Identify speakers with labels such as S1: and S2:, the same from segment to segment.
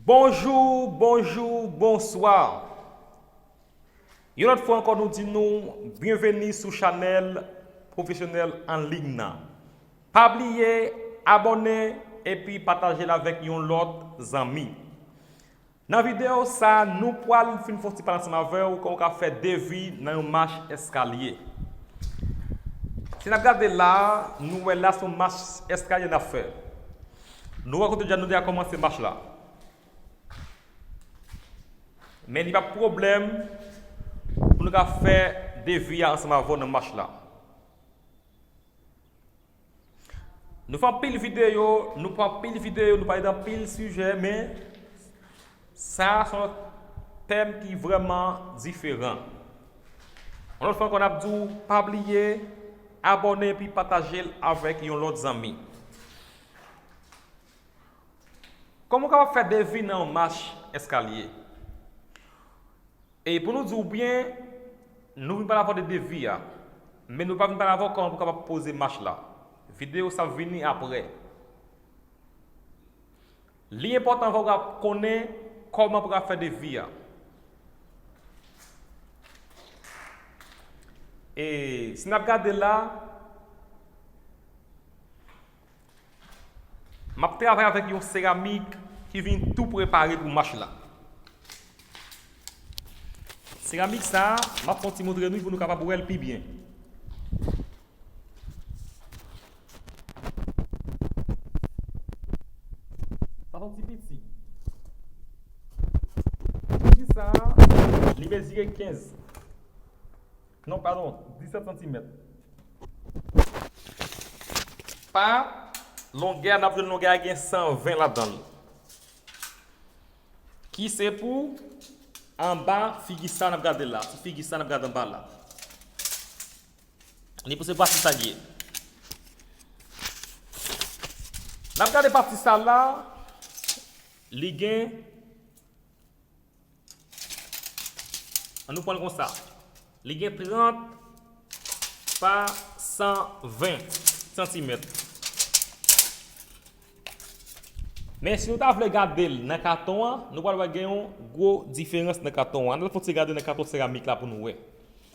S1: Bonjou, bonjou, bonswa! Yon lòt fwa ankò nou di nou byenveni sou chanèl Pwofesyonèl an Liy nan. Pa bliye abòne epi pataje l avèk yon lòt zanmi. Nan video sa nou pwal fin fon ti pale ansanm avew koman ou ka fè devi nan yon mach eskalye. Si nap gade la nou wè la son mach eskalye nap fè. Nou wè kote deja nou deja komanse mach la. Men li pap pwoblèm pou nou ka fè devi a ansanm avew nan mach la. Nou fè anpil videyo, nou pran anpil videyo, nou pale d'anpil sijè men sa a son lòt tèm ki vrèman diferan. Yon lòt fwa ankò n'ap di w pa bliye abòne epi pataje l avèk yon lòt zanmi. Kòman w kapab fè devi nan yon mach eskalye? E pou nou di ou byen, nou vin pale avè w de devi a, men nou pa vin pale avè w kòman pou kapab poze mach la. Videyo sa ap vini aprè. Li enpòtan avè w pou ka konnen kòman pou ka fè devi a. E si n ap gade la. Map travay avèk yon seramik ki vin tou prepare pou mach la. Seramik sa, map fon ti montre nou pou nou kapab wèl pi byen. Sa son ti piti. Ti piti sa, li mezire 15. Non padon 17 santimèt. Pa longè a n ap jwenn longè a gen 120 ladan l ki se pou anba figi sa n ap gade la, figi sa n ap gade anba la ni pou se pati sa l ye n ap gade pati sa la li gen An nou pran l konsa. Li gen 30 pa 120 santimèt. Men si nou ta vle gade l nan katon an, nou pral wè gen yon gwo diferans nan katon an. An nou al fè yon ti gade nan katon seramik la pou nou wè.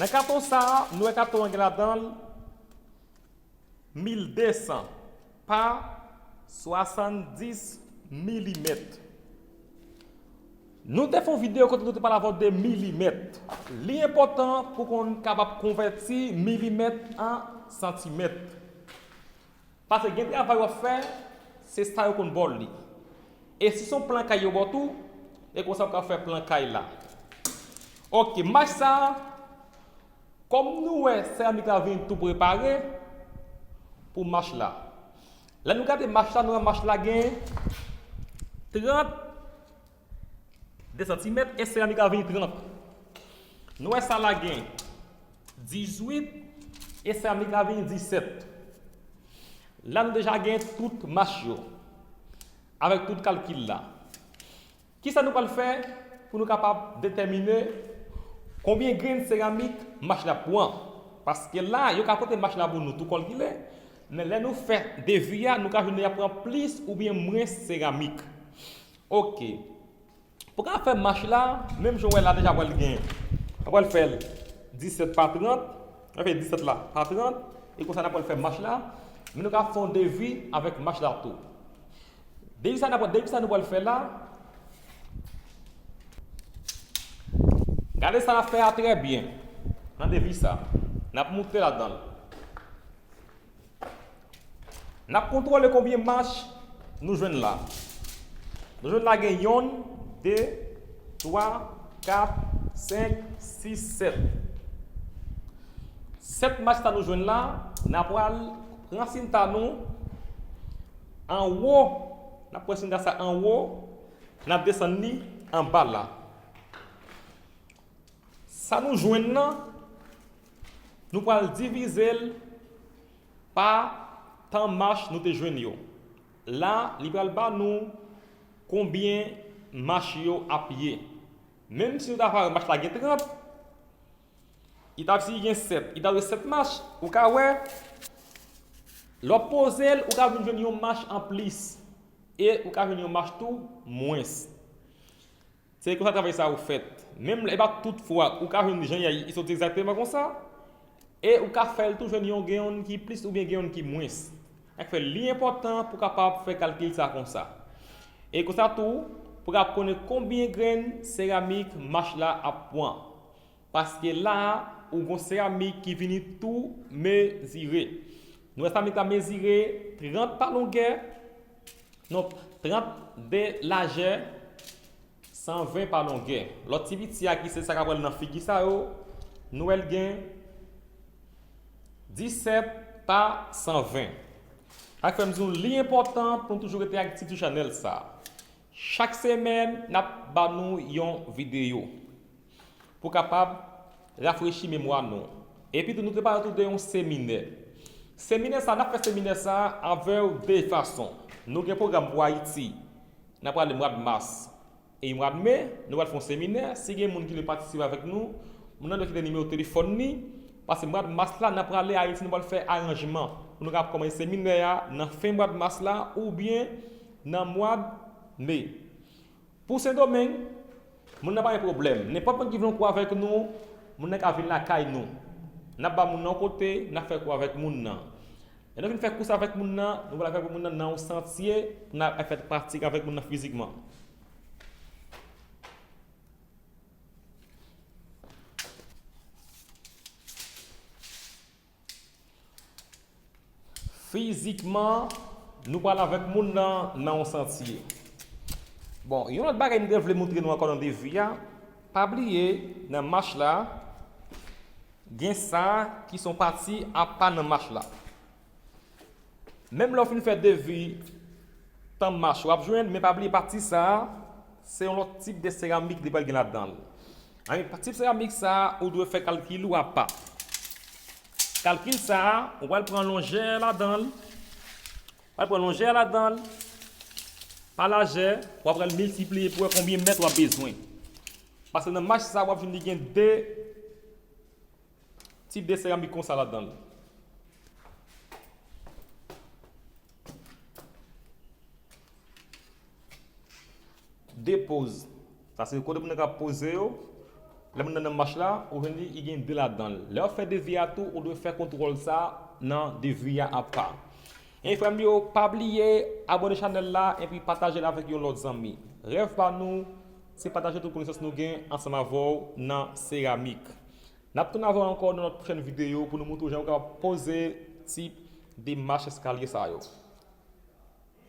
S1: Nan katon sa, nou wè katon an gen ladan l. 1200 pa 70 milimèt. Nou te fè yon videyo kote nou te pale avèw de milimèt. Li enpòtan pou konn kapab konvèti milimèt an santimèt. Pase gen travay wap fè, se sa yo konn baw li. E si son plan kay yo baw tou, e konsa ou ka fè plan kay la. Ok, mach sa, Kòm nou wè seramik la vin tou prepare pou mach la. Lè nou gade mach la nou wè mach la gen 30 2 santimèt e seramik la vin 30. Nou wè sa la gen 18 e seramik la vin 17. La nou deja gen tout mach yo avèk tout kalkil la. Ki sa nou pral fè pou nou kapab detèmine konbyen grenn seramik machin ap pran? Paske la, yo ka pote machin la pou nou tou kòlkile, men lè nou fè devi a, nou ka jwenn y ap pran plis oubyen mwens seramik. Oke. Pou w ka fè machin la, menm jan w wè la deja pral gen, n ap pral fè l 17 pa 30, n ap fè 17 la pa 30, e konsa n ap pral fè machin la, men nou ka fè yon devi avèk machin la tou. Depi sa nap depi sa nou pral fè la. Gade sa nap fè a trè byen. Nan depi sa. Nap moute ladanl. Nap kontwole konbyen mach nou jwenn la. Nou jwenn la gen yonn, 2, 3, 4, 5, 6, 7. 7 mach sa nou jwenn la, na pral pran sinta nou. Anwo, n ap pran chinga sa anwo, n ap desann li anba la. Sa nou jwenn nan, nou pral divize l pa tan mach nou te jwenn yo. La, li pral ba nou konbyen mach yo ap ye. Menmsi nou ta va wè mach la gen 30, It ap si gen 7. It ap gen 7 mach. Ou ka wè, lè w ap poze l, ou ka vin jwenn yon mach an plis. E ou ka jwenn yon mach tou mwens. Se konsa travay sa yo fèt. Menm lè e pa tout fwa ou ka jwenn jan y soti egzakteman konsa. E ou ka fè l tou jwenn yon gen yon ki plis oubyen gen yon ki mwens. Sa k fè li enpòtan pou w kapab fè kalkil sa konsa. E konsa tou, pou w kapab konnen konbyen grenn seramik mach la ap pran. Paske la a, ou gon seramik ki vini tou mezire. Nou wè seramik la mezire 30 pa longè, non, 30 de lajè, 120 pa longè. Lòt ti piti a ki se sa k apral nan figi sa yo, nou wè l gen 17 pa 120. Sa k fè m di nou li enpòtan pou nou toujou rete aktif sou chanèl sa a. Chak semèn nap ba nou yon videyo pou kapab rafrechi memwa nou. Epitou nou prepare tou de yon seminè. Seminè sa, nap fè seminè sa avèw de fason. Nou gen pwogram pou Ayiti, nap prale mwad mas e mwad me, nou pral fè yon seminè, si gen moun ki vle patisipe avèk nou, moun nan dwe kite nimewo telefòn li, pase mwad mas la nan prale Ayiti nou pral fè aranjman pou nou kapab kòmanse seminè a nan fen mwad mas la oubyen nan mwad Me. Pou Sendomeng, moun nan pa gen pwoblèm. Nenpòt moun ki vle yon kou avèk nou, moun nan ka vin lakay nou. N ap ba moun nan yon kote, n ap fè kou avèk moun nan. Lè nou fin fè kou sa avèk moun nan, nou pral avèk moun nan nan yon santye pou n al fè pratik avèk moun nan fizikman. Fizikman, nou pral avèk moun nan nan yon santye. Bon, yon lòt bagay m te vle moutre nou ankò nan defi a, pa bliye nan mach la, gen sa ki son pati apa nan mach la. Menm lè w fin fè devi tanm mache w ap jwenn men pa bliye pati sa se yon lòt tip de seramik li pral gen ladan l pa tip seramik sa ou dwe fè kalkil ou apa kalkil sa ou pral pran longè ladan l wal pran longè ladan l pa lajè w ap pral miltipliye pou wè konbyen mèt w ap bezwen paske nan mache sa w ap jwenn li gen de Ti de seramik konsa ladan l. De poz. Sa se kote moun nan ka poze yo. Lè moun nan nan mach la, ou jwenn li, li gen de ladan l. Lè w ap fè devi a tou, ou dwe fè kontwòl sa nan devi a apa. Hey frè m yo, pa bliye abone chanèl la epi pataje l avèk yon lòt zanmi. Rèv pa nou, se pataje tout konesans nou gen ansanm avè w nan seramik. Nap tounen avèw ankò nan lòt pwochèn videyo pou nou moutre w jan ou kapab poze ti demach eskalye sa yo.